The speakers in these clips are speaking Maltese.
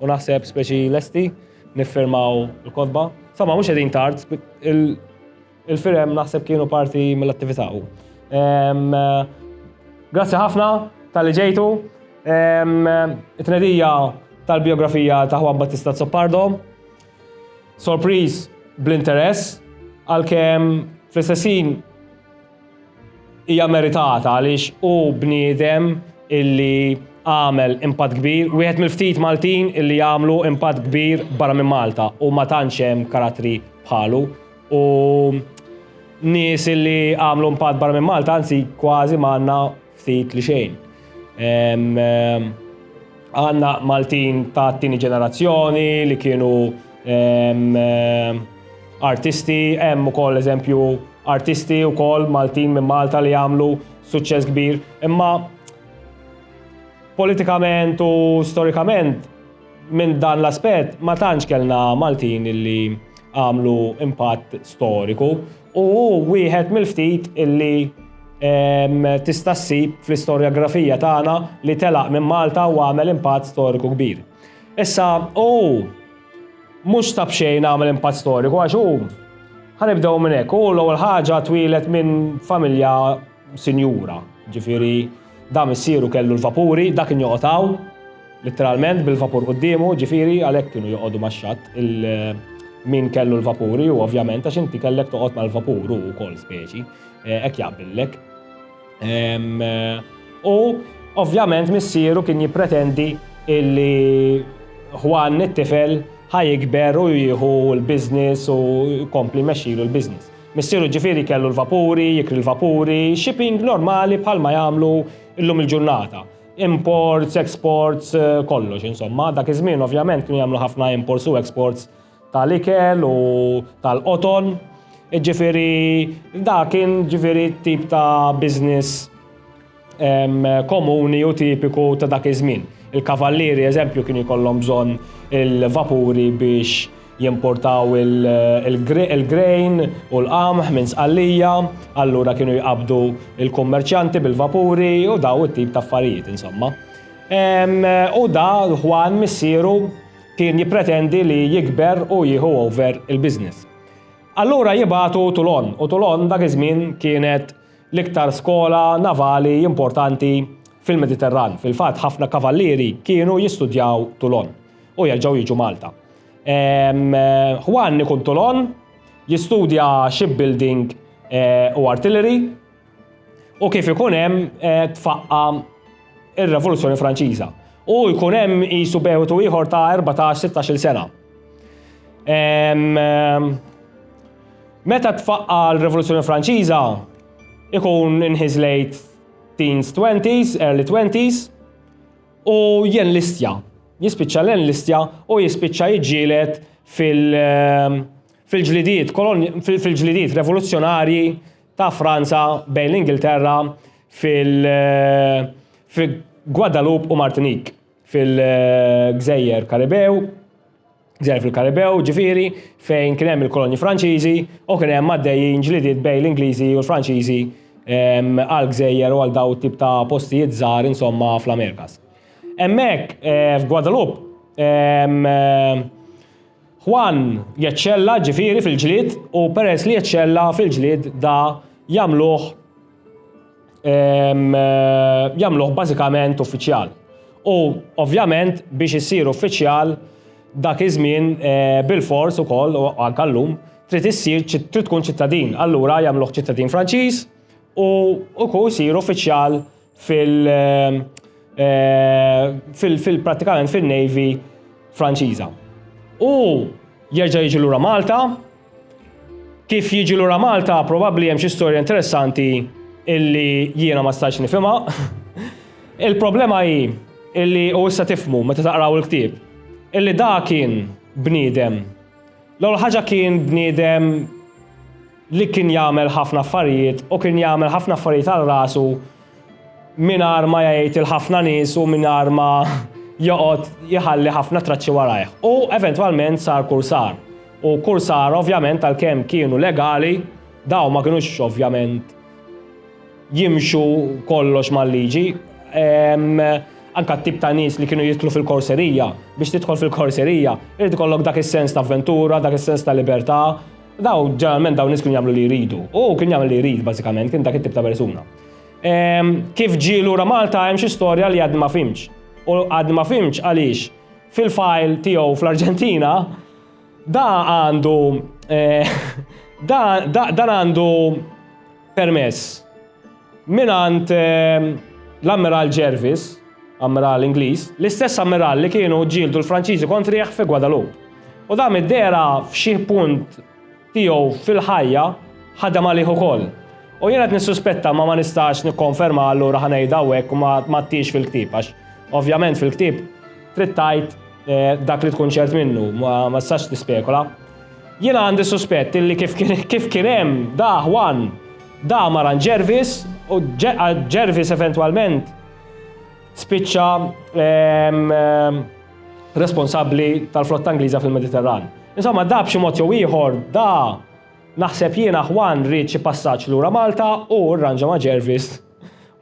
U naħseb speċi lesti niffirmaw il-kotba. Sama, mhux qegħdin tard, il-firem naħseb kienu parti mill-attività. Grazzi ħafna tal-li ġejtu. It-tnedija tal-biografija ta' Juan Battista Zoppardo. Sorpriz bl-interess, għal-kem fl-istessin Hija meritata għaliex hu bniedem illi għamel impatt kbir, wieħed mill-ftit Maltin illi għamlu impatt kbir barra minn Malta u ma tantx hemm karattri bħalu u nies illi għamlu impatt barra minn Malta anzi kważi ma għandna Ftit li xejn. Għanna Maltin ta' tini ġenerazzjoni li kienu artisti, hemm ukoll eżempju artisti ukoll Maltin minn Malta li għamlu suċċess kbir, imma politikament u storikament minn dan l-aspett ma tantx kellna Maltin li għamlu impatt storiku. u hu wieħed mill-ftit li tista' ssib fl-istorjografija tagħna li telaq minn Malta u għamel impatt storiku kbir. Issa hu mhux ta' b'xejn għamel impatt storiku għax hu ħanibdew minn hekk, hu l-ewwel ħaġa twieled minn familja Sinjura, ġifieri da missieru kellu l-vapuri, dak kien joqgħod hawn, litteralment bil-vapur quddiemu, ġifieri għalhekk kienu joqogħdu max-xatt min kellu l-vapuri u ovvjament għax inti kellek toqgħod mal-vapur u wkoll speċi, eh, hekk jaqbillek. Eh, u ovvjament missieru kien jippretendi illi Juan it-tifel ħajikber u jieħu l-biznis u kompli mexilu l-biznis. Missieru ġifieri kellu l-vapuri, jikri l-vapuri, shipping normali bħalma jagħmlu llum il-ġurnata. Imports, exports, kollox insomma. Dak iż-żmien ovvjament kienu jagħmlu ħafna imports u exports tal-ikel u tal-qoton. Ġifieri da kien ġifieri tip ta' business komuni u tipiku ta' dak iż-żmien. Il-kavallieri, eżempju, kienu jkollhom bżonn il-vapuri biex jimportaw il-grejn u l-qamħ minn Sqallija, allura kienu jqabbdu l-kummerċjanti bil-vapuri u daw it-tip ta' affarijiet, insomma. U da, Juan, missieru, kien jippretendi li jikber u jieħu over il-business. Allura jibagħtu Tulon, u Tulon dak iż-żmien kienet l-iktar skola navali importanti fil-Mediterran. Fil-fatt ħafna kavallieri kienu jistudjaw Toulon u jerġgħu jiġu Malta. Ehm, Juan ikun Toulon jistudja shipbuilding eh, u artillery u kif ikun hemm eh, tfaqqa ir-Revoluzzjoni Franċiża. U jkun hemm qisu bewtu ieħor ta' 14-16 sena. Ehm, ehm, Meta tfaqqa l-Rivoluzzjoni Franċiża, ikun in his late teens, twenties, early twenties, u jen listja. Jispiċċa len listja u jispiċċa jġilet fil-ġlidiet, fil-ġlidiet revoluzzjonarji ta' Franza bejn l-Ingilterra fil-Guadalupe u Martinique, fil-gżejjer Karibew. Gżer fil-Karibew, ġifieri, fejn kien hemm il-kolonji Franċiżi u kien hemm għaddejjin ġlidiet bejn l-Ingliżi u l-Franċiżi ehm, għal gżejjer u għal daw it-tip ta' postijiet żgħar insomma fl-Amerikas. Hemmhekk eh, f'Guadalupe ehm, Juan jeċċella ġifieri fil-ġlied u peress li jeċċella fil-ġlied da jagħmluh jagħmluh bażikament uffiċjal. U ovvjament biex issir uffiċjal dak iż-żmien eh, bil-fors ukoll u anke llum trid issir trid tkun ċittadin. Allura jagħmluh ċittadin Franċiż u ukoll jsir uffiċjal fil- eh, eh, fil-pratikament fil-Navy Franċiża. U jerġa' jiġi lura Malta Kif jiġi lura Malta, probabbli hemm xi storja interessanti illi jiena ma stajtx nifhimha. Il-problema hi illi u issa tifhmu meta taqraw il-ktieb, illi da kien bniedem. L-ewwel ħaġa kien bniedem li kien jagħmel ħafna affarijiet u kien jagħmel ħafna affarijiet għal rasu mingħajr ma jgħid il ħafna nies u mingħajr ma joqgħod jħalli ħafna traċċi warajh. U eventwalment sar kursar. U kursar ovvjament għalkemm kienu legali, daw ma kinux ovvjament jimxu kollox mal-liġi. Anka t-tip ta' nies li kienu jitlu fil-korserija, biex tidħol fil-korserija, irid ikollok dak is-sens ta' avventura, dak is-sens ta' libertà, Daw, ġeneralment dawn nies kienu jagħmlu li jridu. U kien jagħmel li jrid bażikament, kien dak it-tip ta' persuna. Ehm, kif ġie lura Malta hemm xi storja li għad ma fimx. U għad ma fimx għaliex fil-fajl tiegħu fl-Arġentina da għandu eh, dan għandu Permess mingħand l-Ammiral Jervis, Ammiral Ingliż, l-istess Ammiral li kienu ġġieldu l-Franċiżi kontrih fi Guadalupe. U dan mid-dehra f'xi punt tiegħu fil-ħajja ħadem għalih ukoll. U jien qed nissuspetta ma ma nistax nikkonferma allura ħa ngħidha hawnhekk u ma għadtiex fil-ktieb għax ovvjament fil-ktieb trid tgħid Eh, dak li tkun ċert minnu, ma sax tispekola. Jiena għandi suspett illi kif kien hemm da Juan, da Maran Jervis u Jervis eventwalment spiċċa ehm, ehm, responsabbli tal-flotta Ingliża fil-Mediterran. Insomma, da b'xi mod jew ieħor da naħseb jiena Juan rrid xi passaġġ lura Malta u rranġa ma' Jervis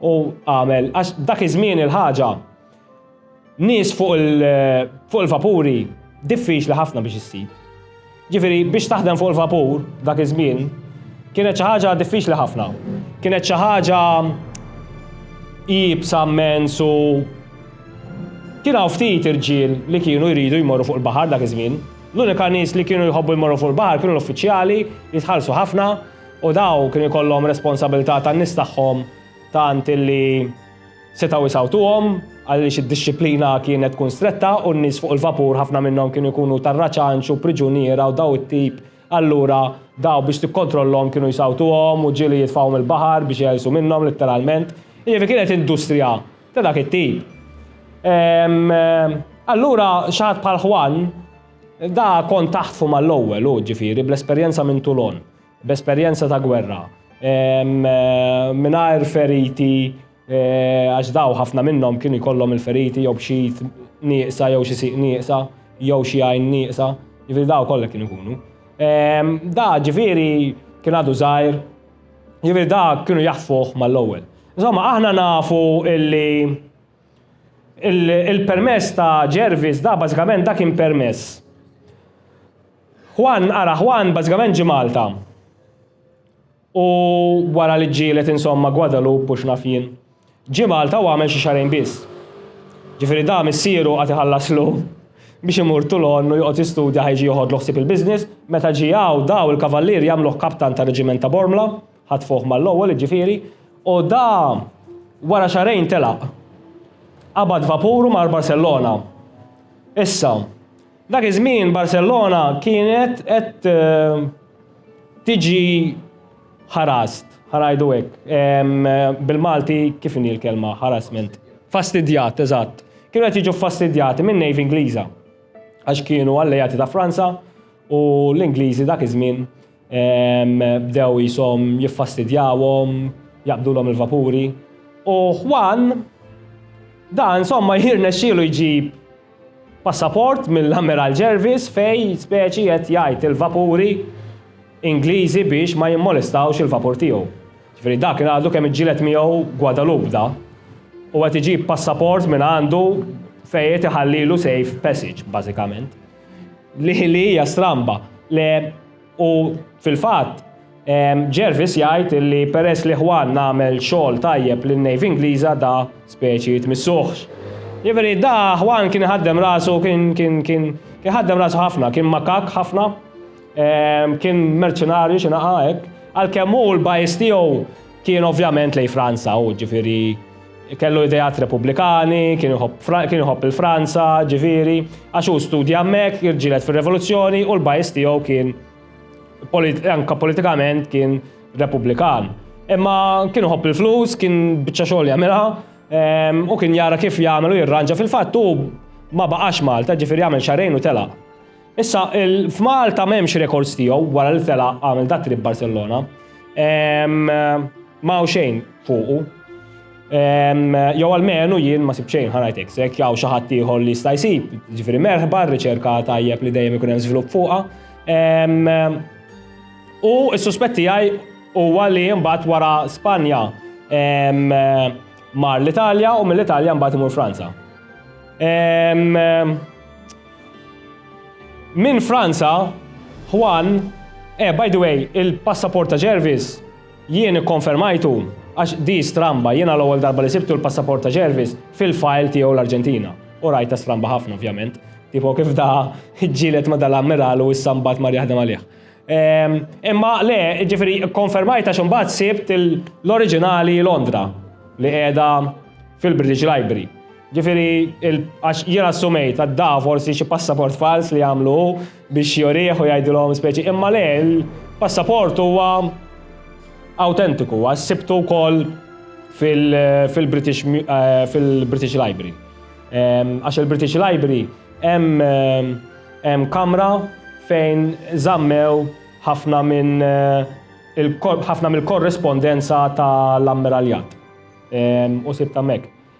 u għamel għax dak iż-żmien il-ħaġa Nies fuq il-vapuri diffiċli ħafna biex issib. Ġifieri biex taħdem fuq il-vapur dak iż-żmien kienet xi ħaġa diffiċli ħafna. Kienet xi ħaġa iebsa mmens u kien hawn ftit irġiel li kienu jridu jmorru fuq il-baħar dak iż-żmien. L-unika nies li kienu jħobbu jmorru fuq il-baħar kienu l-uffiċjali li tħallsu ħafna u dawn kienu jkollhom responsabilità tan-nies tagħhom tant illi Setgħu jsawtuhom għaliex id-dixxiplina kienet tkun stretta u n-nies fuq il-vapur ħafna minnhom kienu jkunu tar-raċanċ u priġuniera u daw it-tip, allura daw biex tikkontrollhom kienu jsawtuhom u ġieli jitfgħuhom il-baħar biex iegħlsu minnhom litteralment. Jiġifieri kienet industrija ta' dak it-tip. Ehm, allura xi ħadd bħal Juan da kon taħtfu mal-ewwel hu ġifieri bl-esperjenza minn Toulon. b'esperjenza ta' gwerra, mingħajr feriti għax dawn ħafna minnhom kienu jkollhom il-feriti jew b'xi id nieqsa jew xi sieq nieqsa jew xi għajn nieqsa, jiġifieri dawn kollha kienu jkunu. Da ġifieri kien għadu żgħir, jiġifieri da kienu jaħfuh mal-ewwel. Insomma, aħna nafu illi il-permess ta' Jervis da bażikament da kien permess. Juan, ara Juan bażikament ġie Malta u wara li ġġieled insomma Guadalupe u x'naf jien. Ġie Malta u għamel xi xahrejn biss. Ġifieri da missieru qagħad iħallaslu biex imur Toulon u joqgħod jistudja ħa jiġi joħodlu ħsieb il-business. Meta ġie hawn daw il-Kavallieri għamluh kaptan tar-Reġiment ta' Bormla, ħatfuh mal-ewwel jiġifieri, u da wara xahrejn telaq. Qabad vapuru mar Barcellona. Issa, Dak iż-żmien Barcellona kienet qed tiġi harassed, ħa ngħidu hekk. Bil-Malti kif inhi l-kelma harassment? Fastidjat, eżatt. Kienu qed jiġu ffastidjati min-Navy Ingliża għax kienu alleati ta' Franza u l-Ingliżi dak iż-żmien Bdew qishom jiffastidjawhom, jaqbdulhom il-vapuri. U Juan, dan somma jirnexxielu jġib passaport mill-Ammiral Jervis fejn speċi qed jgħid il-vapuri Ingliżi biex ma jimmolestawx il-vapur tiegħu. Ġifieri dak kien għadu kemm iġġieled miegħu Guadalupe da, u qed iġib passaport mingħandu fejn qed iħallilu safe passage bażikament. Li li hija stramba. Le u fil-fatt Jervis jgħid li peress li Juan għamel xogħol tajjeb lin-Navy Ingliża da speċi jitmissuhx. Jiġifieri da Juan kien iħaddem rasu kien kien kien kien ħaddem rasu ħafna, kien makak ħafna, kien merċenarju xi naqa' hekk. Għalkemm hu l-bajs tiegħu kien ovvjament lejn Franza hu ġifieri Kellu ideat Repubblikani, kien iħobb il-Franza, ġifieri, għax hu studja hemmhekk, irġielet fir-Revoluzzjoni u l-bajs tiegħu kien anke politikament kien Repubblikan. Imma kien iħobb il-flus, kien biċċa xogħol jagħmilha ehm, u kien jara kif jagħmel u jirranġa fil-fatt hu ma baqax Malta, ġifieri jagħmel xarejn u telaq. Issa, f'Malta m'hemmx rekords tiegħu wara li tela' għamel dat trip Barcellona. Ma hawn xejn fuqu. Jew almenu jien ma sib xejn ħanajtek sek, jew xi ħadd ieħor li jista' jsib, ġifieri merħba r-riċerka tajjeb li dejjem ikun hemm żvilupp fuqha. U s-suspett tiegħi huwa li mbagħad wara Spanja mar l-Italja u mill-Italja mbagħad imur Franza. Minn Franza, Juan, eh by the way, il-passaport ta' Jervis jien ikkonfermajtu għax di stramba, jiena l-ewwel darba li sibtu l-passaport ta' Jervis fil-file tiegħu l-Arġentina. U rajtha stramba ħafna ovvjament, tipo kif da ġġieled ma' dal-ammiral u issa mbagħad mar jaħdem għalih. Ehm, imma le, ġifieri kkonfermajt għax imbagħad sibt l-oriġinali Londra li qiegħda fil-British Library. Ġifieri, għax jien assumejt għadda forsi xi passaport fals li jagħmlu biex jorih u jgħidilhom speċi, imma le l-passaport huwa awtentiku, huwa sibtu wkoll fil-British eh, fil-British Library. Ehm, għax il-British Library hemm eh, kamra fejn żammew ħafna minn eh, ħafna mill-korrespondenza tal-ammiraljat ehm, u sibta mek.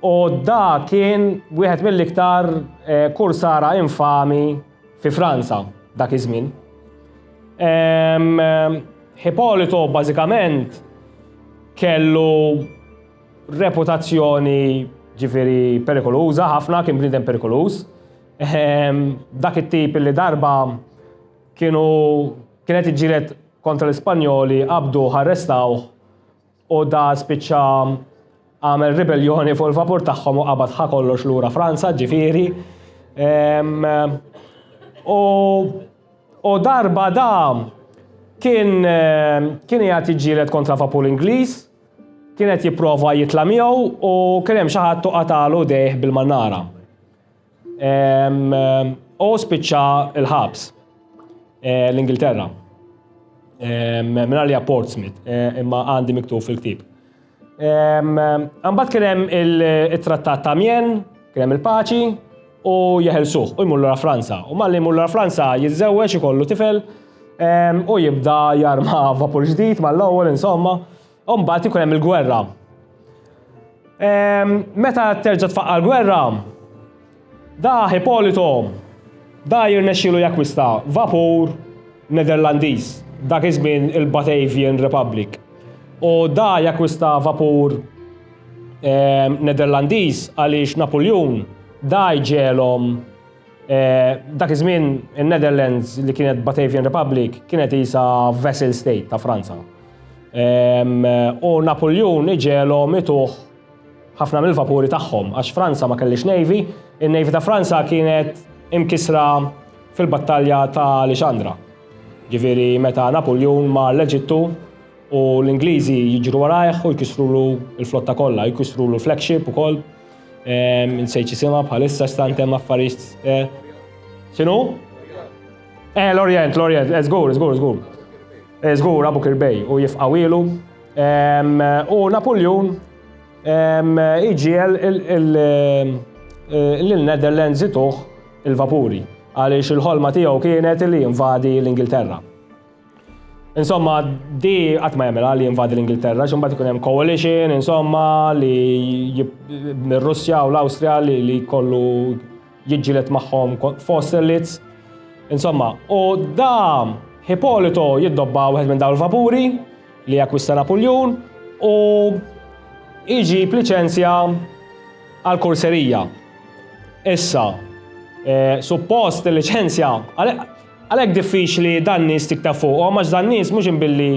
U da kien wieħed mill-iktar eh, kursara infami fi Franza dak iż-żmien. Hippolito bażikament kellu reputazzjoni ġifiri perikoluża ħafna, kien bniedem perikoluż. Ehm, dak it-tip li darba kienu kienet iġġiret kontra l-Ispanjoli qabdu ħarrestaw U da spiċċa għamel ribelljoni fuq il-vapur tagħhom u qabad ħa kollox lura Franza, ġifieri. U u darba da kien kien jgħat jġilet kontra vapur Ingliż, kienet jipprova jitla' miegħu u kien hemm xi ħadd u qatalu dejh bil-mannara. U spiċċa l-ħabs eh, l-Ingilterra. Minna li Portsmouth, eh, imma għandi miktub fil-ktib. Għambat kienem il-trattat ta' Mien, kienem il-paċi, u jeħelsuħ, u jmullu Franza. U malli jmullu Franza jizzewġ ikollu tifel, u jibda jarma vapur ġdid mal-ewwel insomma. Umbagħad ikun hemm il-gwerra. Ehm, meta terġa' tfaqqa l-gwerra, da Hippolito da jirnexxielu jakwista vapur Nederlandiż dak iż-żmien il-Batavian Republic. U da jakwista vapur ehm, Nederlandiż għaliex Napoljun da jġelhom Eh, dak iż-żmien in-Netherlands li kienet Batavian Republic kienet isa vessel state ta' Franza. U Napoleon iġelhom ituħ ħafna mill-vapuri tagħhom għax Franza ma kellix navy, in-navy ta' Franza kienet imkisra fil-battalja ta' Alexandra. Ġifieri meta Napoleon mar l-Eġittu u l-Ingliżi jiġru warajh u jkisrulu l-flotta kollha, jkisrulu l-flagship ukoll. Nsejt ċisima bħalissa stantem affarijiet. Eh, xinu? Eh, l-Orient, l-Orient, eh, zgur, zgur, zgur. Eh, zgur, Abu Kirbej, u jifqawilu. U Napoleon iġiel l-Netherlands ituħ il-vapuri, għaliex il-ħolma tiegħu kienet li invadi l-Ingilterra. Insomma, di qatt ma jagħmilha li jinvadi l-Ingilterra, x'imbagħad ikun hemm coalition, insomma, li mir-Russja u l-Awstrija li li kollu jiġġieled magħhom fost elites. Insomma, u da Hipolito jiddobba wieħed minn dawn il-vapuri li jakkwista Napuljun u iġib liċenzja għal kurserija. Issa, eh, suppost il-liċenzja, Għalhekk diffiċli dan nies tikteb fuqhom għax dan nies mhux imbilli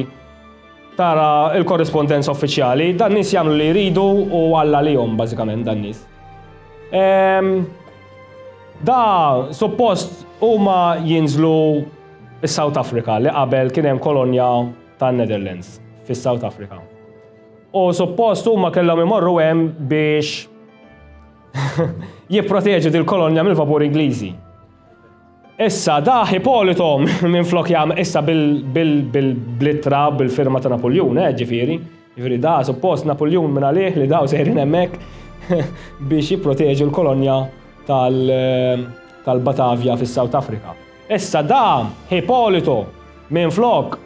tara l-korrispondenza uffiċjali, dan nies jagħmlu li jridu u Alla għalihom bażikament dan nies. Ehm, da suppost huma jinżlu s-South Africa li qabel kien hemm kolonja tan Netherlands fis-South Africa. U suppost huma kellhom imorru hemm biex jipproteġu dil-kolonja mill-vapur Ingliżi. Issa dah Ipolito minflok jagħmel issa bl-ittra bil-firma ta' Napuljun, eh, ġifieri. Ġifieri dah suppost Napuljun minn għalih li daw sejrin hemmhekk biex jipproteġu l-kolonja tal-Batavja fis-South Africa. Issa dah Ipolito minflok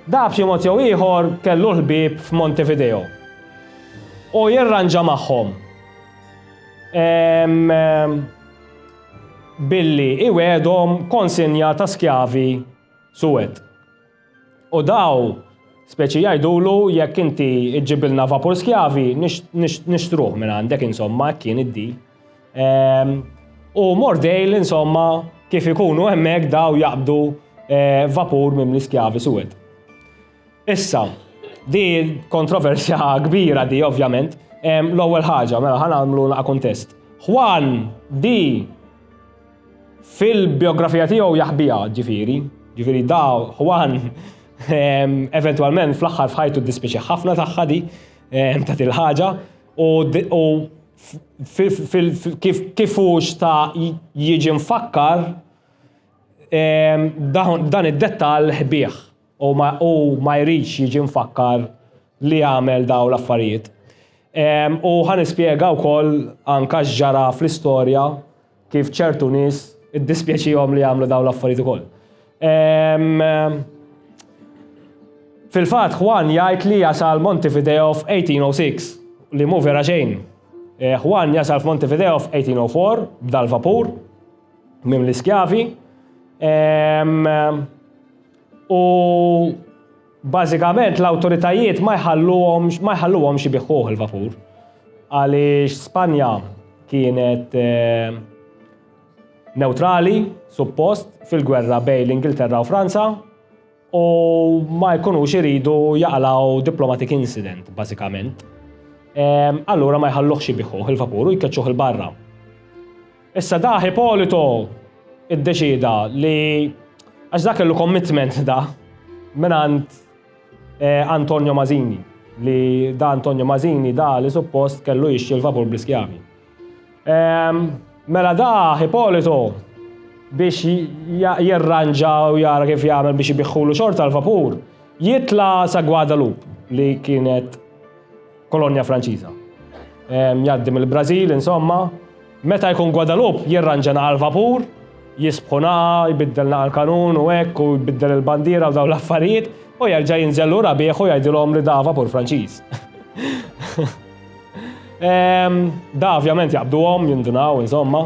dah b'xi mod jew ieħor kellu l-ħbieb f'Montevideo. U jirranġa magħhom. Ehm. billi iwegħedhom konsinja ta' skjavi suwed. U daw speċi jgħidulu jekk inti ġġibilna vapur skjavi nixtruh minn għandek insomma hekk kien id-deal. Ehm, u Mordejl insomma kif ikunu hemmhekk daw jaqbdu eh, vapur minn l-iskjavi suwed. Issa, di kontroversja kbira di, ovvjament. L-ewwel ħaġa, mela ħan għamlu naqa' kuntest. Juan di fil-biografija tiegħu jaħbija, ġifieri, ġifieri da Juan eventwalment fl-aħħar f'ħajtu dispiċi ħafna tagħha di ta' il-ħaġa u kif hux ta' jiġi mfakkar dan id-dettall ħbieħ. u ma, u ma jridx jiġi mfakkar li għamel dawn l-affarijiet. Ehm, u ħa nispjega wkoll anka x'ġara fl-istorja kif ċertu nies iddispjaċihom li għamlu dawn l-affarijiet ukoll. Ehm, Fil-fatt Juan jgħid li jasal Montevideo f'1806 li mhu vera xejn. Eh, Juan jasal f'Montevideo f'1804 b'dal-vapur mim l-iskjavi. Ehm, U bażikament l-awtoritajiet ma jħalluhomx ma jħalluhomx ibiħħuh il-vapur. Għaliex Spanja kienet eh, neutrali, suppost, fil-gwerra bejn l-Ingilterra u Franza, u ma jkunux iridu jaqalaw diplomatic incident, bażikament. Ehm, allura ma jħalluħx ibiħħuh il-vapur u jkeċċuh il-barra. Issa da Hipolito iddeċieda li għax da kellu commitment da minant eh, Antonio Mazini li da Antonio Mazini da li suppost kellu jixxi l-vapur bl-iskjavi. Ehm, mela da Hipolito biex jirranġa u jara kif jagħmel biex ibiħħulu xorta l-vapur, jitla sa Guadalupe li kienet Kolonja Franċiża. Jgħaddi mill-Brażil, insomma, meta jkun Guadalupe jirranġa nagħal vapur, jisbħu naqa, jbiddel nagħal kanun u hekk u jbiddel il-bandiera u dawn l-affarijiet u jerġa' jinżel lura bih u jgħidilhom li da vapur Franċiż. da ovvjament jaqbduhom, jindunaw, insomma,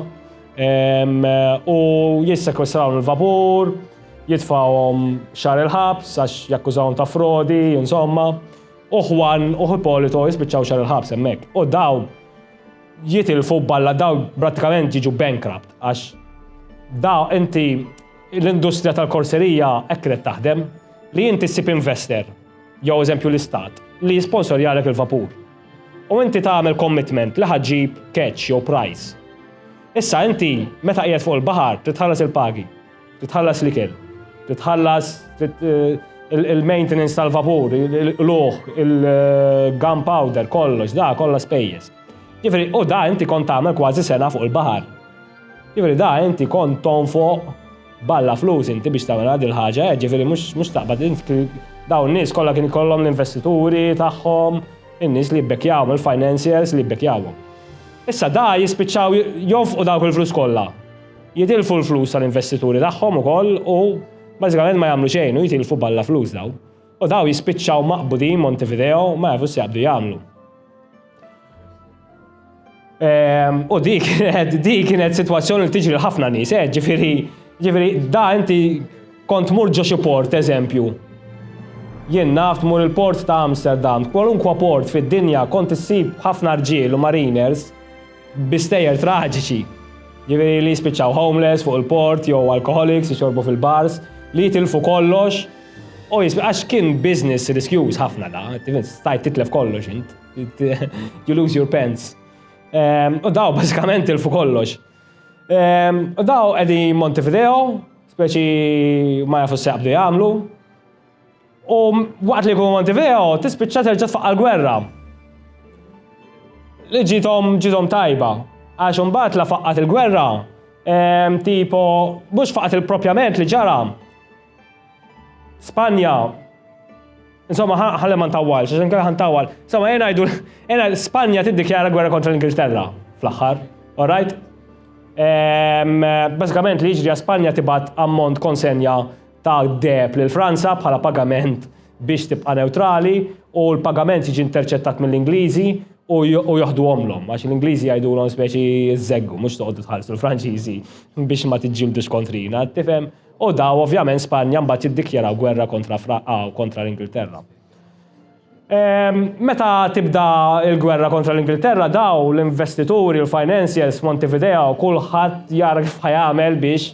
u jissekwestraw il-vapur, jitfawhom xar il-ħabs għax jakkużawhom ta' frodi, insomma. U Juan u Hipólito jispiċċaw xahar il-ħabs hemmhekk. U dawn jitilfu balla dawn prattikament jiġu bankrupt għax da inti l-industrija tal-korserija hekk kienet taħdem li inti ssib investor jew eżempju l-istat li jisponsorjalek il-vapur. U inti tagħmel commitment li ħaġġib catch jew price. Issa inti meta qiegħed fuq il-baħar trid tħallas il-pagi. Titħallas l-ikel, titħallas il-maintenance tal-vapur, l-uħ, il-gunpowder, kollox, da kollha spejjeż. Ġifieri, u da inti kont tagħmel kważi sena fuq il-baħar. Ġifieri da inti kont tonfoq balla flus inti biex tagħmel għad il-ħaġa, eh, ġifieri mhux taqbad dawn nies kollha kien ikollhom l-investituri tagħhom, in-nies li jibbekjawhom, il-financiers li jibbekjawhom. Issa da jispiċċaw jonfqu dawk il-flus kollha. Jitilfu l-flus tal-investituri tagħhom ukoll u bażikament ma jagħmlu xejn u jitilfu balla flus dawn. U dawn jispiċċaw maqbudin Montevideo ma jafu x'jaqbdu jagħmlu. Ehm, u di kienet, di kienet situazzjoni li tiġri l-ħafna nis, eh, ġifiri, ġifiri, da inti kont mur ġo port, eżempju. Jien naft mur il-port ta' Amsterdam, kwalunkwa port fid-dinja kont issib ħafna rġiel u mariners bi stejjer traġiċi, jiġifieri li jispiċċaw homeless fuq il-port jew alcoholics jixorbu fil-bars, li jitilfu kollox u jisp-, għax kien business riskjuż ħafna da, stajt titlef kollox int, you lose your pants. Ehm, u daw bażikament tilfu kollox. Ehm, u daw qegħdin Montevideo, speċi ma jafu s-seqbdu jagħmlu, U waqt li jkunu Montevideo, tispiċċa terġa' tfaqqa l-gwerra. Li ġitom ġitom tajba. Għax imbagħad la faqqat il-gwerra, ehm, tipo mhux faqqat il-propjament li ġara. Spanja Insomma, ħalli ma ntawwalx, għax inkella ħantawwal. Insomma, jena jgħidu, jena Spanja tiddikjara gwerra kontra l-Ingilterra fl-aħħar, all right? Ehm, basikament li jiġri Spanja tibat ammont konsenja ta' deheb lil Franza bħala pagament biex tibqa' newtrali u l-pagament jiġi interċettat mill-Ingliżi u u joħduhomlhom għax l-Ingliżi jgħidulhom speċi żeggu mhux toqgħodu tħallsu l-Franċiżi biex ma tiġġildux kontrina, tifhem? U daw ovvjament Spanja mbagħad jiddikjaraw gwerra kontra Fra kontra l-Ingilterra. Meta tibda l-gwerra kontra l-Ingilterra daw l-investituri u l-financiers f'Montevideo kulħadd jara kif ħa jagħmel biex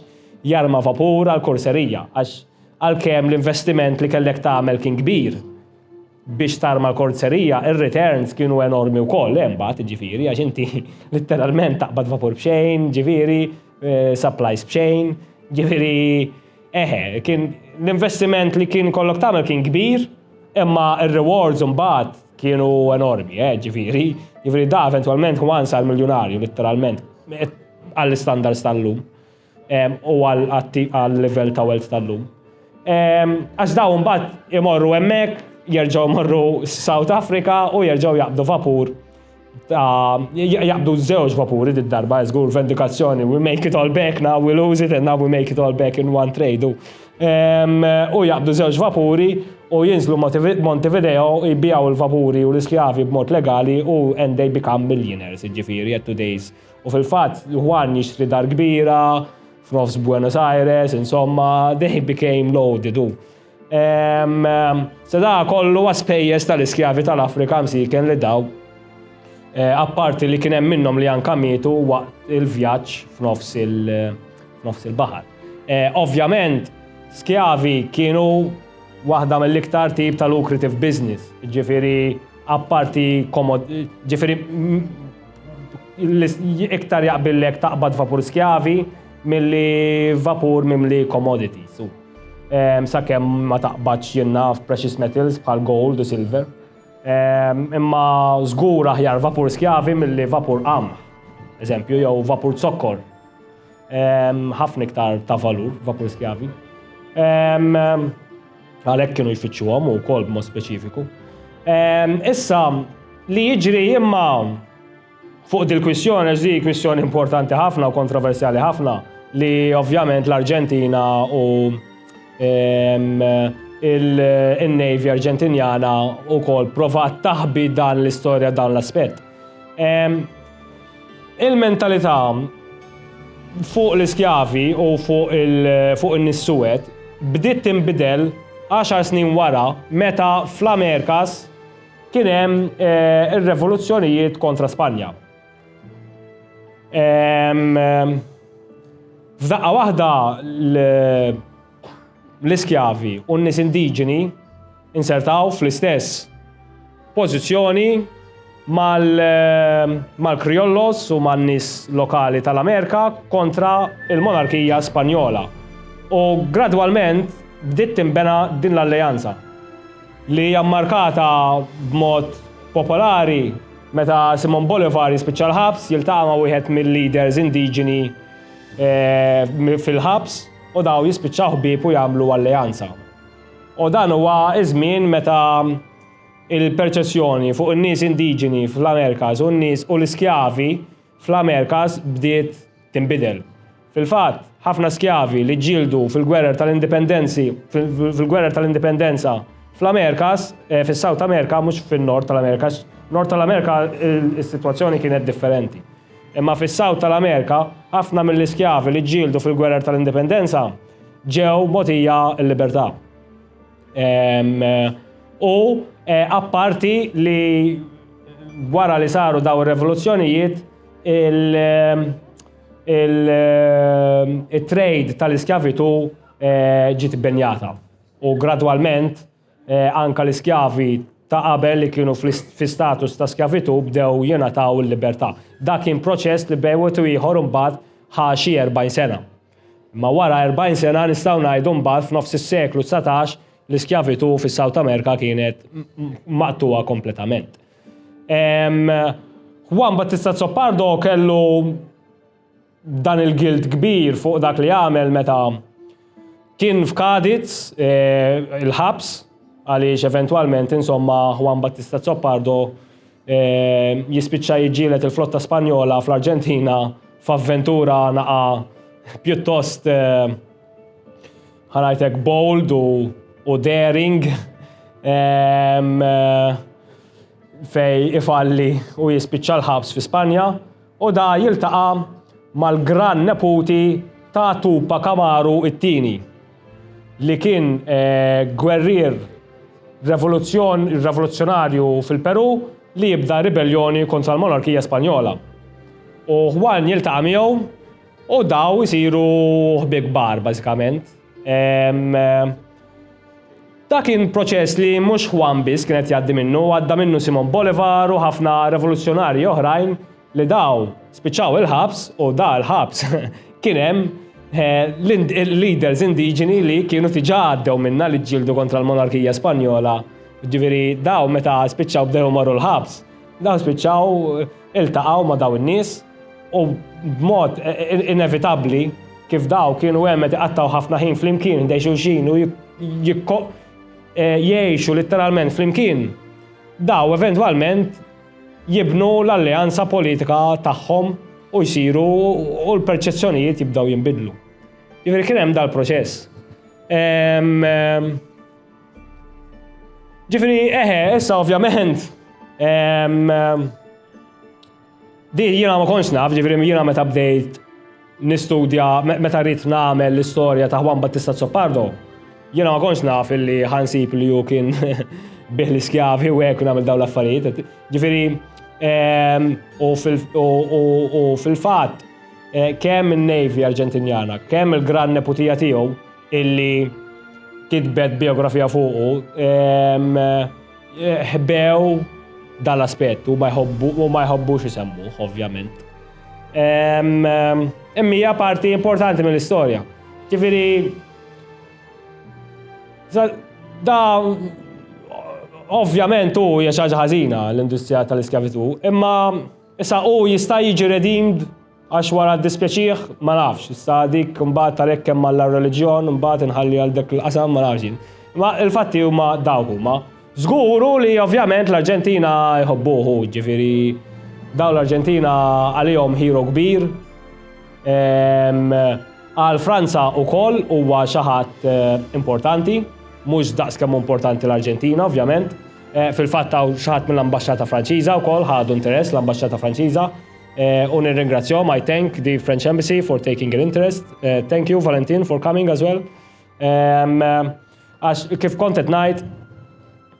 jarma vapur għall-kurserija għax għalkemm l-investiment li kellek tagħmel kien kbir biex tarma l-kurserija ir-returns kienu enormi wkoll hemm mbagħad jiġifieri għax inti litteralment taqbad vapur b'xejn jiġifieri supplies b'xejn jiġifieri Eħe, kien l-investiment li kien kollok tagħmel kien kbir, imma r-rewards mbagħad kienu enormi, eh, ġifieri. Ġifieri da eventwalment Juan sar miljunarju litteralment għall-standards tal-lum u għall-level ta' wealth tal-lum. Għax daw mbagħad imorru hemmhekk, jerġgħu morru South Africa u jerġgħu jaqbdu vapur jaqbdu żewġ vapuri d darba żgur vendikazzjoni we make it all back now we lose it and now we make it all back in one trade u ehm, u jaqbdu żewġ vapuri u jinżlu Montevideo jbijaw il-vapuri u l-iskjavi b'mod legali u and they become millionaires ġifiri at today's u fil-fatt Juan jixtri dar kbira f'nofs Buenos Aires insomma they became loaded u Se da kollu għaspejjes tal-iskjavi tal-Afrika msiken li daw eh, apparti li kien hemm minnhom li anka mietu waqt il-vjaġġ f'nofs il-baħar. Eh, ovvjament, skjavi kienu waħda mill-iktar tip tal-lucrative business, ġifiri apparti komod, ġifiri iktar jaqbillek taqbad vapur skjavi mill-li vapur mimli commodities. Sakemm ma taqbadx jien naf precious metals bħal gold u silver. Imma żgur aħjar vapur skjavi milli vapur qamħ, eżempju, jew vapur zokkor. Ħafna iktar ta' valur vapur skjavi. Għalhekk kienu jfittxuhom u wkoll b'mod speċifiku. Issa, li jiġri imma Fuq dil-kwistjoni, għax di kwistjoni importanti ħafna u kontroversjali ħafna, li ovvjament l-Arġentina u il-Navy Arġentinjana u kol provat taħbi dan l-istoria dan l-aspet. Il-mentalita fuq l-iskjavi u fuq il-nissuwet bdiet timbidel 10 snin wara meta fl-Amerkas Kien hemm eh, ir-revoluzzjonijiet kontra Spanja. Eh, f'daqqa waħda l-iskjavi u n-nies indiġeni insertaw fl-istess pożizzjoni eh, mal-Kriollos u man-nies lokali tal-Amerika kontra il-monarkija Spanjola. U gradwalment bdiet timbena din l-alleanza. li hija mmarkata b'mod popolari meta Simon Bolivar jispiċċa l-ħabs, jiltaqa' ma' wieħed mil-leaders indiġeni fil-ħabs u dawn jispiċċaw ħbieb u jagħmlu alleanza. U dan huwa ż-żmien meta il-perċessjoni fuq in-nies indiġeni fl-Amerikas u n-nies u l-iskjavi fl-Amerikas bdiet tinbidel. Fil-fatt, ħafna skjavi li ġġieldu fil-gwerer tal-indipendenzi fil-gwerer tal-indipendenza fl-Amerikas, eh, fis-South America, mhux fin-Nord tal-Amerika, Nord tal-Amerika is-sitwazzjoni kienet differenti. Imma fis-South tal-Amerika, ħafna mill-iskjavi li ġġieldu fil-gwerer tal-indipendenza ġew mogħtija l-libertà. U eh, apparti li wara li saru daw ir-revoluzzjonijiet il-trade tal-iskjavitu eh, ġiet benjata. U gradwalment eh, anka l-iskjavi ta' qabel li kienu fi status ta' skjavitu bdew jingħataw il-libertà. Dak kien proċess li bejwet u ieħor imbagħad ħa xi 40 sena. Imma wara 40 sena nistgħu ngħidu mbagħad f'nofs is-seklu dsatax l-iskjavitù fis-South America kienet maqtugħa kompletament. Juan Battista Zoppardo kellu dan il-gilt kbir fuq dak li għamel meta kien f'Kadiz e, il-ħabs għaliex eventwalment insomma Juan Battista Zoppardo jispiċċa jiġġielet il-flotta Spanjola fl-Arġentina f'avventura naqa pjuttost eh, ħanajtek bold u, u daring ehm, eh, fej ifalli u jispiċċa l-ħabs fi Spanja u da jiltaqa mal-gran neputi ta' Tupa Kamaru it-tini. li kien gwerrier revoluzzjonarju fil-Perù li jibda ribelljoni kontra l-monarkija Spanjola. U Juan jiltaqa' miegħu u daw isiru ħbieb kbar bażikament. Da kien proċess li mhux Juan biss kien qed jgħaddi minnu, għadda minnu Simon Bolivar u ħafna revoluzzjonarji oħrajn li daw spiċċaw il-ħabs u da l-ħabs kien hemm eh, l-leaders indiġeni li kienu tiġa għaddew minna li ġildu kontra l-monarkija Spanjola. Ġifieri daw meta spiċċaw bdew marru l-ħabs, daw spiċċaw eh, iltaqgħu ma' daw in-nies u b'mod eh, inevitabbli kif daw kienu hemm qed iqattaw ħafna ħin flimkien dej xulxin u jgħixu letteralment flimkien. Daw eventwalment jibnu l-alleanza politika tagħhom u jsiru u l-perċezzjonijiet jibdew jinbidlu. Jiġifieri kien hemm dal-proċess. Ġifieri eħe, issa ovvjament Di jiena ma konx naf, ġifieri jiena meta bdejt nistudja meta ridt nagħmel l-istorja ta' Juan Battista Zoppardo, jiena ma kontx naf illi ħansib li hu kien bih l-iskjavi u hekk nagħmel dawn l-affarijiet. Ġifieri ehm, u fil-fatt eh, kemm in-Navy Arġentinjana, kemm il-gran neputija tiegħu illi kitbet biografija fuqu, ehm, eh, ħbew dal-aspett u ma jħobbux isemmuh, ovvjament. Immija parti importanti mill-istorja. Ġifiri, da ovvjament u hija xi ħaġa ħażina l-industrija tal-iskjavitu, imma issa u jista' jiġi redeemed għax wara dispjaċih ma nafx, issa dik mbagħad talek kemm għall reliġjon mbagħad inħalli għal dak il-qasam ma nafx. Ma il-fatti huma dawk huma. Żgur hu li ovvjament l-Arġentina jħobbuh hu, ġifieri dawn l-Arġentina għalihom hero kbir. Ehm, għal Franza wkoll huwa xi ħadd eh, importanti, mhux daqs kemm importanti l-Arġentina ovvjament. Eh, fil-fatt hawn xi ħadd mill-ambaxxata Franċiża wkoll ħadu interess l-ambaxxata Franċiża. Eh, u nirringrazzjahom I thank the French Embassy for taking an interest. Thank you Valentin for coming as well. Ehm, Għax kif kont qed ngħid,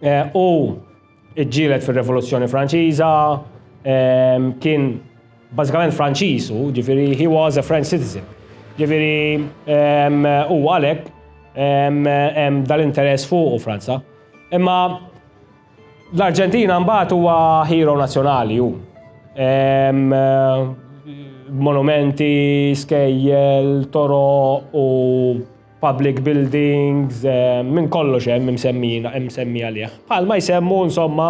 eh, u ġġielet fir-Revoluzzjoni Franċiża, eh, kien bażikament Franċiż u ġifieri he was a French citizen. Ġifieri eh, u għalhekk hemm dal-interess fuq u Franza. Imma l-Arġentina mbagħad huwa hero nazzjonali hu. Monumenti, skejjel, toro u public buildings, minn kollox hemm imsemmijin, imsemmi għalih. Bħal ma jsemmu insomma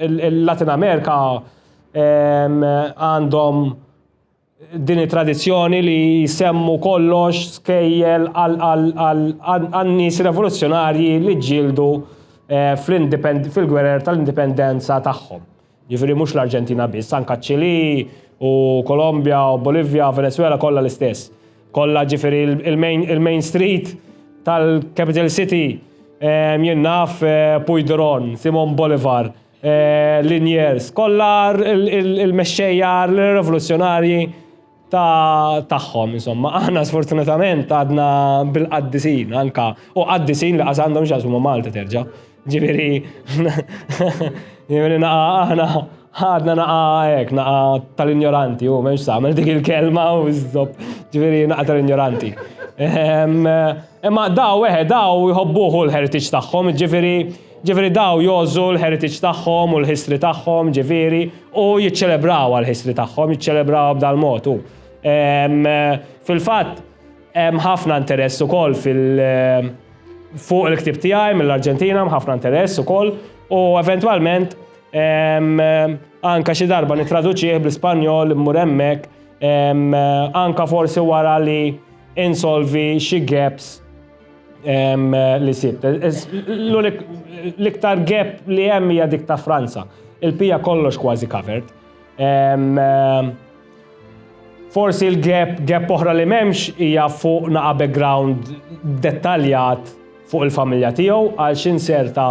il-Latin Amerika għandhom din it-tradizzjoni li jsemmu kollox skejjel għan-nies revoluzzjonarji li ġildu fil-gwerer tal-indipendenza tagħhom. Jiġifieri mhux l-Arġentina biss, anke ċ-Ċilì u Kolombja u Bolivja, Venezuela kollha l-istess. Kollha ġifieri il-main street tal-capital city ehm, jien naf eh, Puigdron, Simon Bolivar, eh, Liniers, kollha il-mexxejja l-revoluzzjonarji ta' tagħhom insomma. Aħna sfortunatament għadna bil-qaddisin anka u qaddisin li qas għandhom x'jaqsmu ma' Malta terġa'. Ġifieri ġifieri naqa' aħna ħadna naqa' hekk naqa' tal-injoranti u m'hemmx tagħmel dik il-kelma u żopp ġifieri naqa' tal-injoranti. Ehm, imma daw eħe daw jħobbuh u l-heritage tagħhom, ġifieri Ġifieri daw jgħożżu l-heritage tagħhom u l-history tagħhom, ġifieri, u jiċċelebrawha l-history tagħhom, jiċċelebrawha b'dal-mod u. Fil-fatt, hemm ħafna interess ukoll fil-, fuq il-ktieb tiegħi mill-Arġentina, hemm ħafna interess ukoll u eventwalment anke xi darba nittraduċih bl-Ispanjol, immur hemmhekk, anke forsi wara li insolvi xi gaps. li sibt. L-iktar gap li hemm hija dik ta' Franza. Il-pija kollox kważi covered. Forsi l-gap, gap oħra li memx hija fuq naqa background dettaljat fuq il-familja tiegħu għal x'in serta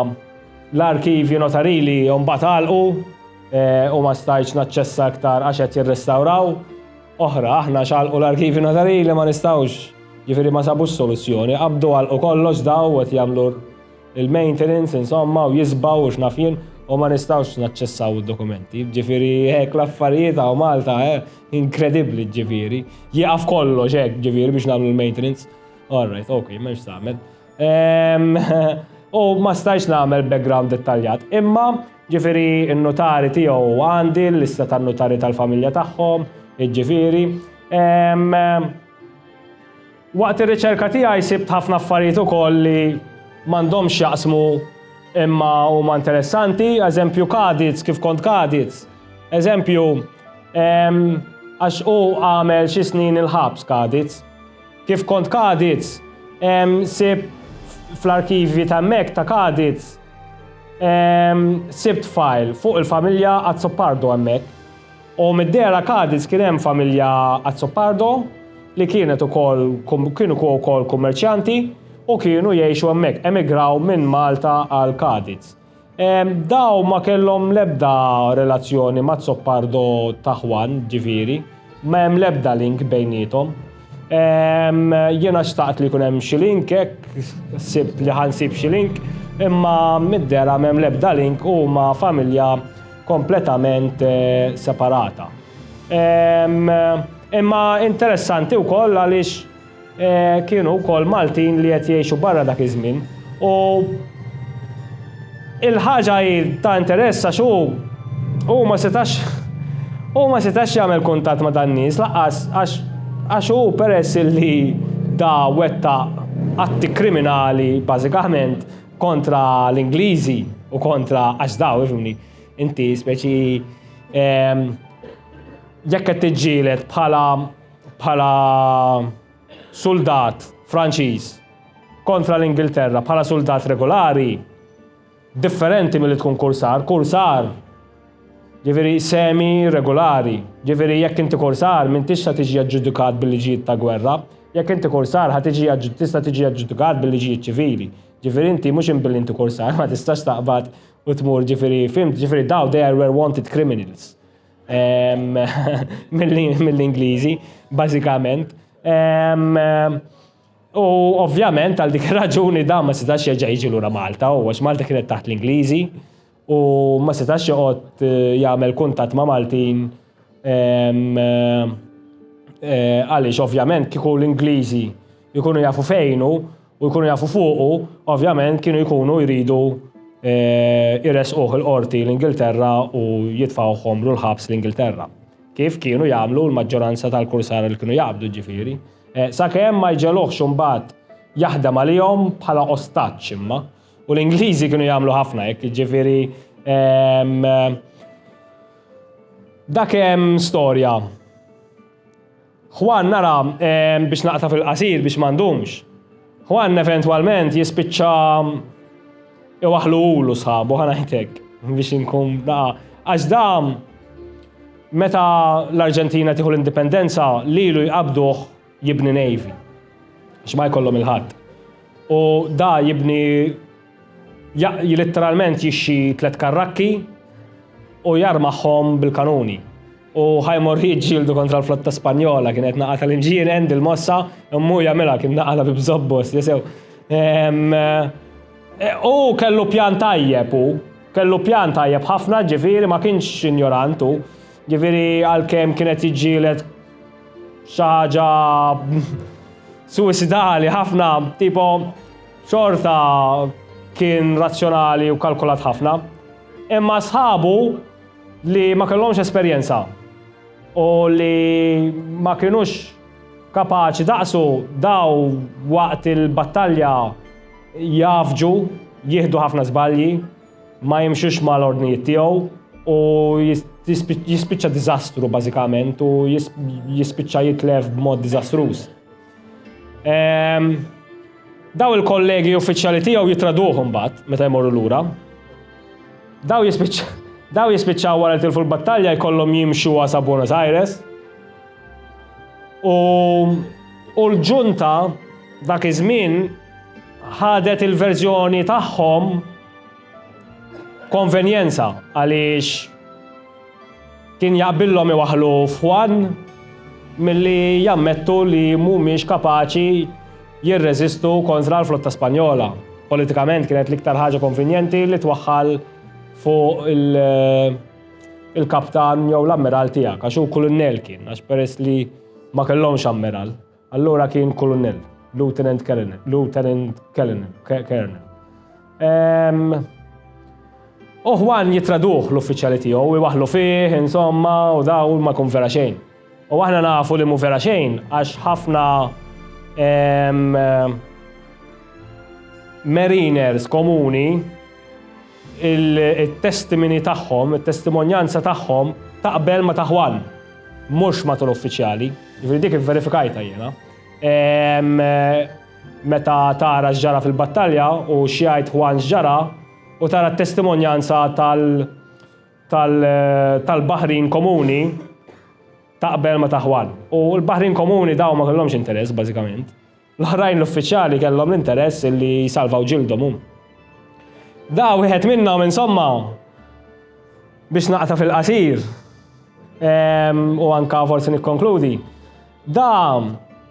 l-arkivji notarili mbagħad għalqu eh, u ma stajtx naċċessa iktar għax qed jirrestawraw. oħra, aħna x'għalqu l-arkivji notarili ma nistgħux, jiġifieri ma sabux soluzzjoni, qabdu għalqu kollox daw qed jagħmlu l-maintenance insomma u jisbaw u x'naf jien u ma nistgħux naċċessaw id-dokumenti. Ġifieri hekk l-affarijiet hawn Malta eh, inkredibbli ġifieri. Jieqaf kollox hekk ġifieri biex nagħmlu l-maintenance. All right, ok, m'hemmx tagħmel. Ehm, u ma stajx nagħmel background dettaljat, imma Jiġifieri n-nutari tiegħu għandi l-lista tan-nutari tal-familja tagħhom, jiġifieri. Waqt ir-riċerka tiegħi sibt ħafna affarijiet ukoll li m'għandhomx x'jaqsmu imma huma interessanti, eżempju Kadiz, kif kont Kadiz. Eżempju, għax hu għamel xi snin il-ħabs Kadiz. Kif kont Kadiz, sibt fl-arkivji ta' hemmhekk ta' Kadiz Sibt file fuq il-familja Azzopardo hemmhekk. U mid-dera Cadiz kien hemm familja Azzopardo li kienet ukoll kienu wkoll kummerċjanti u kienu jgħixu hemmhekk, emigraw minn Malta għal Cadiz. Daw ma kellhom l-ebda relazzjoni ma' Zoppardo ta' Juan, ġifieri. Ma hemm l-ebda link bejnietom. Jiena xtaqt li jkun hemm xi link hekk, sib li ħansib xi link, imma mid-dera m'hemm l-ebda link huma familja kompletament eh, separata. Imma interessanti wkoll għaliex Kienu wkoll Maltin li qed jgħixu barra dak iż-żmien u il-ħaġa hi ta' interess għax hu hu ma setax hu ma setax jagħmel kuntatt ma' dan-nies lanqas għax għax hu peress illi da wettaq atti kriminali bażikament kontra l-Ingliżi u kontra għax da ifhimni inti speċi jekk qed tiġġieled bħala bħala suldat Franċiż kontra l-Ingilterra bħala suldat regolari differenti milli tkun kursar, kursar ġifieri semi regolari, ġifieri jekk inti kursar m'intix sa tiġi aġġudikat bil-liġijiet ta' gwerra, jekk inti kursar ħa tiġi tista' tiġi aġġudikat bil-liġijiet ċivili. Ġifieri inti mhux imbilli inti kursar ma tistax taqbad u tmur ġifieri fimt, ġifieri daw they were wanted criminals. mill-Ingliżi, bażikament. U ovvjament għal dik raġuni da ma setax jerġa' jiġi lura Malta, u għax Malta kienet taħt l-Ingliżi, u ma setax joqgħod eh, jagħmel kuntatt ma' Maltin eh, eh, għaliex ovvjament kieku l-Ingliżi Jkunu jafu fejnu u jkunu jafu fuqu, ovvjament kienu jkunu jridu eh, jresquh il-qorti l-Ingilterra u jitfawhom l-ħabs l-Ingilterra. Kif kienu jagħmlu l-maġġoranza tal-kursara li kienu jaqbdu ġifiri. Eh, sakemm ma jġeluħx imbagħad jaħdem għalihom bħala ostaċ imma. U l-Ingliżi kienu jagħmlu ħafna hekk, ġifiri ehm, dak hemm storja Juan nara, biex naqta' fil-qasir biex ma ndumx, Juan eventwalment jispiċċa iwaħħlu hu u sħabu, ħa ngħid hekk, biex inkun daqa', għax dan meta l-Arġentina tieħu l-indipendenza lilu jqabbduh jibni navy, għax ma jkollhom il-ħadd. U dan jibni Litteralment jixxi tliet karrakki u jarmahom bil-kanuni. U ħajmor jiġġieldu kontra l-flotta Spanjola kienet naqa tal-inġien End il-mossa immu jagħmilha kien naqala bi bżobbos li sew. E, u kellu pjan tajjeb u kellu pjan tajjeb ħafna ġifieri ma kienx injorant u ġifieri għalkemm kienet jiġġieled xi ħaġa suicidali ħafna tipo Xorta kien razzjonali u kalkulat ħafna, imma sħabu li ma kellhomx esperjenza u li ma kinux kapaċi daqsu daw waqt il-battalja jgħaffġu, jieħdu ħafna żbalji, ma jimxux mal-ordnijiet tiegħu u jispiċċa diżastru bażikament u jispiċċa jitlef b'mod diżastruż. Ehm, daw il-kollegi uffiċjali tiegħu jitraduhom bat, meta jmorru lura. Daw jispiċċa daw jispiċċaw wara tilfu l-battalja jkollhom jimxu għasa Buenos Aires. U u l-ġunta dak iż-żmien ħadet il-verżjoni tagħhom konvenjenza għaliex Kien jaqbillhom iwaħħlu f'Juan milli jammettu li mhumiex kapaċi jirreżistu kontra l-flotta Spanjola. Politikament kienet l-iktar ħaġa konvinjenti li twaħħal fuq il-kaptan jew l-ammiral tiegħek għax hu kulunnell kien għax peress li ma kellhomx ammiral. Allura kien Kulunell, Lieutenant Colonel, Lieutenant Colonel. Uħwan jitraduħ l-uffiċjali tiegħu, iwaħlu fih, insomma, u daw ma kun vera xejn. U aħna nafu li mu vera xejn, għax ħafna mariners komuni it-testimini tagħhom, it-testimonjanza tagħhom taqbel ma' ta' Juan, mhux ma' tul uffiċjali. Ġifieri dik ivverifikajtha jiena. Ehm, meta tara x'ġara fil-battalja u x'jgħid Juan x'ġara u tara t-testimonjanza tal tal tal-baħrin komuni taqbel ma' ta' Juan. U l-baħrin komuni daw ma kellhomx interess bażikament. L-oħrajn l-uffiċjali kellhom l-interess illi jsalvaw ġildhom hum. Da wieħed minnhom insomma biex naqta fil-qasir ehm, u anka forsi nikkonkludi. Da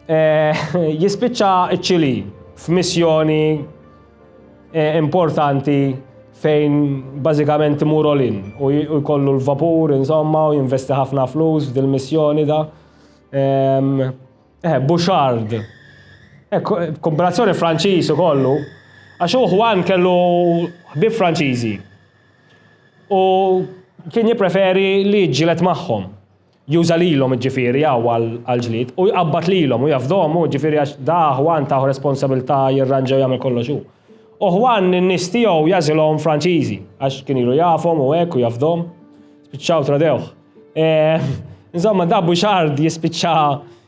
eh, jispiċċa ċ-Ċili f'missjoni eh, importanti fejn bażikament imur olin u jkollu l-vapur insomma u jinvesti ħafna flus f'dil-missjoni da. Ehm, Eh, Bouchard. Eh, kombinazzjoni Franċiż u kollu. Għax u Juan kellu ħbib Franċiżi. U kien jipreferi li ġilet magħhom. Juża lilhom ġifieri għaw għal-ġlid u jqabbad lilhom u jafdhom u ġifieri għax da Juan taħu responsabilità jirranġaw jagħmel kollox u. U Juan n-nies tiegħu jażilhom Franċiżi għax kien ilu jafhom u hekk u jafdhom. Spiċċaw tradewh. Eh, insomma, dabbu xard jispiċċa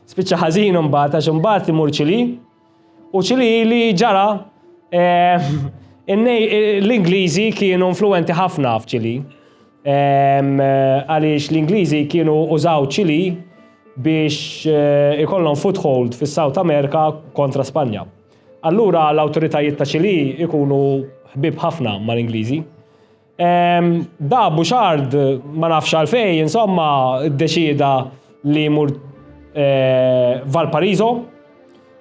spiċċa ħażin imbagħad għax imbagħad imur ċili. U ċili li ġara eh, l-Ingliżi kienu influenti ħafna f'ċili. Eh, għaliex l-Ingliżi kienu użaw ċili biex ikollhom foothold fis-South America kontra Spanja. Allura l-awtoritajiet ta' ċili ikunu ħbib ħafna mal-Ingliżi. Da Bouchard ma nafx għalfej, insomma, ddeċieda li jmur eh, Valparaiso,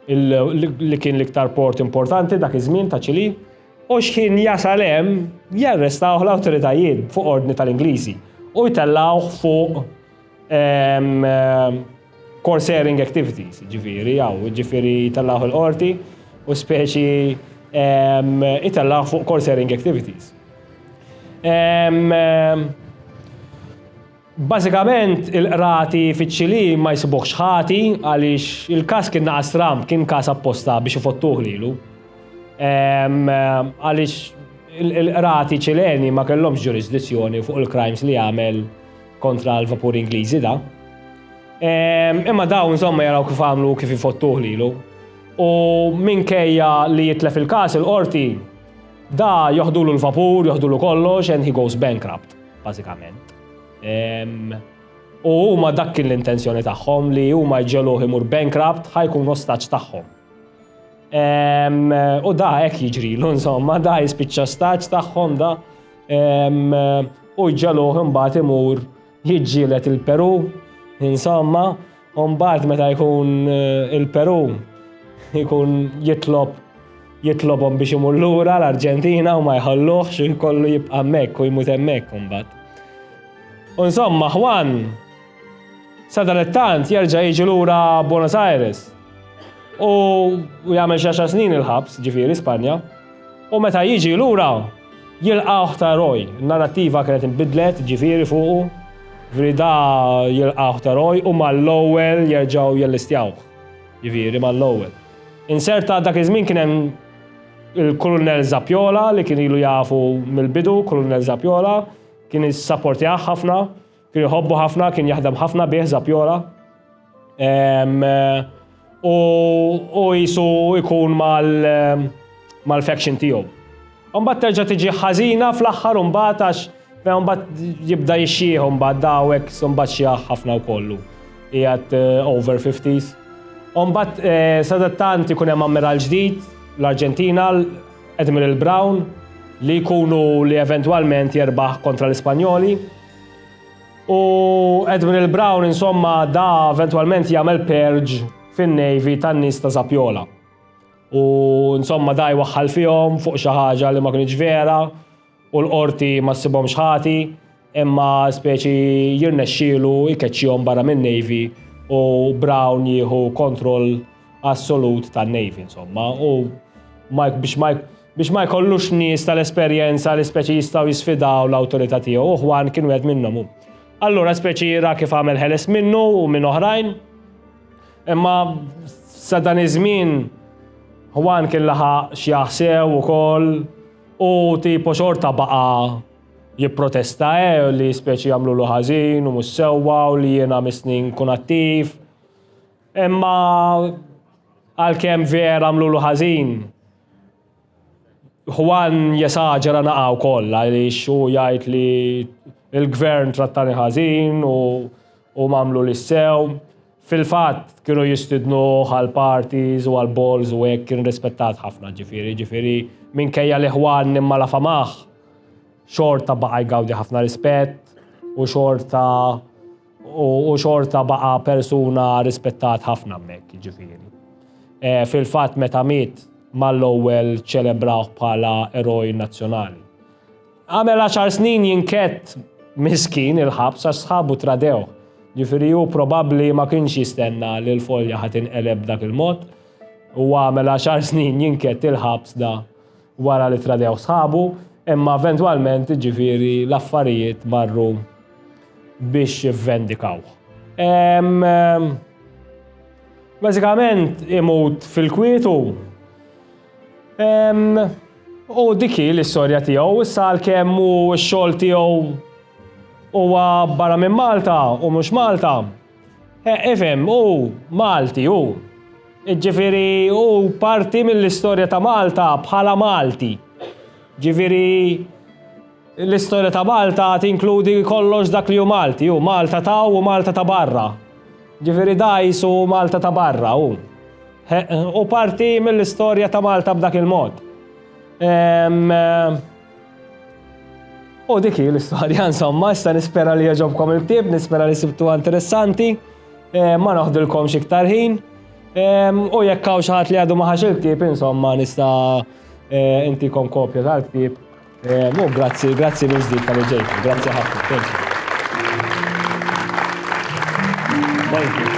li kien l-iktar port importanti dak iż-żmien ta' Ċili, u xħin jasal hemm jarrestawh l-awtoritajiet fuq ordni tal-Ingliżi u jtellawh fuq eh, Course airing activities, ġifiri, jaw, ġifiri jitallaħ il-qorti u speċi jitallaħ fuq course airing activities. Basikament, il-qrati fiċ-ċili ma jisibuħx ħati għaliex il-kas kien naqas tram, kien kas apposta biex ifottuħ lilu. Għaliex il-qrati ċileni ma kellhomx ġurisdizzjoni fuq il-crimes li għamel kontra l-vapur Ingliżi da. Ehm, imma daw insomma jaraw kif għamlu kif ifottuh lilu. U minkejja li jitlef il-kas il-qorti da joħdulu l-vapur, joħdulu kollox, and he goes bankrupt, basikament. Ehm, u huma dak kien l-intenzjoni tagħhom li huma jġeluh imur bankrupt ħajkun ostaġġ tagħhom. Ehm, u da hekk jiġri, l insomma, da jispiċċa staġġ tagħhom da. U ġaluħ imbagħad imur jiġġielet il-Peru, insomma, u mbagħad meta jkun eh, il-Peru jkun jitlob jitlobhom biex imur lura l-Arġentina u ma jħalluħx u jkollu jibqa' hemmhekk u jmut hemmhekk imbagħad. U insomma, Juan sadalettant jerġa' jiġi lura Buenos Aires u jagħmel xi snin il-ħabs, ġifieri Spanja. U meta jiġi lura, jilqgħuh ta' eroj. In-narrattiva kienet inbidlet, jiġifieri fuqu, jiġifieri da jilqgħuh ta' eroj u mal-ewwel jerġgħu jellistjawh, jiġifieri mal-ewwel. Inserta dak iż-żmien kien hemm il-Kulunell Zappjola li kien ilu jafu mill-bidu, Kulunell Zappjola, kien issapportjah ħafna. Kien iħobbu ħafna, kien jaħdem ħafna bih Zapjora. U jisu ikun mal-faction tiegħu. Umbat terġa' tiġi ħażina fl-aħħar umbat għax umbat jibda jixxieħ umbat dawek umbat xieħ ħafna wkollu. Ijat eh, over 50s. Umbat eh, sadattant ikun hemm ammiral ġdid l-Arġentina, Admiral Brown, li jkunu li eventualment jerbaħ kontra l-Ispanjoli. U Admiral Brown insomma da eventualment jagħmel purge fin-Navy tan-nies ta' Zapjola. U insomma da jwaħħal fihom fuq xi ħaġa li ma kinitx vera u l-qorti ma ssibhomx ħati imma speċi jirnexxielu jkeċċihom barra min-Navy u Brown jieħu kontroll assolut tan-Navy insomma u Mike biex Mike Biex ma jkollux nies tal-esperjenza li speċi jistgħu jisfidaw l-awtorità tiegħu, u Ħwan kien wieħed minnhom hu. Allura speċi ra kif għamel ħeles minnu u minn oħrajn. Imma sa dan iż-żmien Ħwan kien laħaq x'jaħsew ukoll u tipo xorta baqa' jipprotesta eh li speċi jagħmlulu ħażin u mhux sewwa u li jiena mis-snin kun attiv. Imma għalkemm vera għamlulu ħażin, Juan jesaġera naqa' wkoll għaliex hu jgħid li l-gvern trattani ħażin u u m'għamlu li sew. Fil-fatt kienu jistidnu għal parties u għal balls u hekk kien rispettat ħafna ġifieri, ġifieri minkejja li Juan imma la famah xorta baqa' jgawdi ħafna rispett u xorta U xorta baqa persuna rispettat ħafna mek, ġifiri. E, Fil-fat meta miet mal-ewwel ċelebrawh bħala eroj nazzjonali. Għamel 10 snin jinkett miskin il-ħabs għax sħabu tradew. Ġifiri hu probabbli ma kienx jistenna li l-folja ħatin eleb dak il-mod u għamel 10 snin jinkett il-ħabs da wara li tradew sħabu, imma eventwalment jiġifieri l-affarijiet marru biex jivvendikawh. Bażikament imut fil-kwietu u dik hi l-istorja tiegħu. Issa għalkemm hu x-xogħol tiegħu huwa barra minn Malta u mhux Malta, Eh, ifhem, hu Malti, hu. Ġifieri hu parti mill-istorja ta' Malta bħala Malti. Ġifieri l-istorja ta' Malta tinkludi kollox dak li hu Malti, hu Malta ta' u Malta ta' barra. Ġifieri dajs u Malta ta' barra, hu. U parti mill-istorja ta' Malta b'dak il-mod. Ehm, U dik hi l-istorja, insomma, issa nispera li jogħġobkom il-ktieb, nispera li sibtu interessanti, eh, ma noħdilkomx iktar ħin. U jekk hawn xi ħadd li għadu ma ħax il-ktieb, insomma, nista' eh, intikom kopja tal-ktieb. Mu grazzi, grazzi minn ġdid tal-ġejtu, grazzi ħafna. Thank you.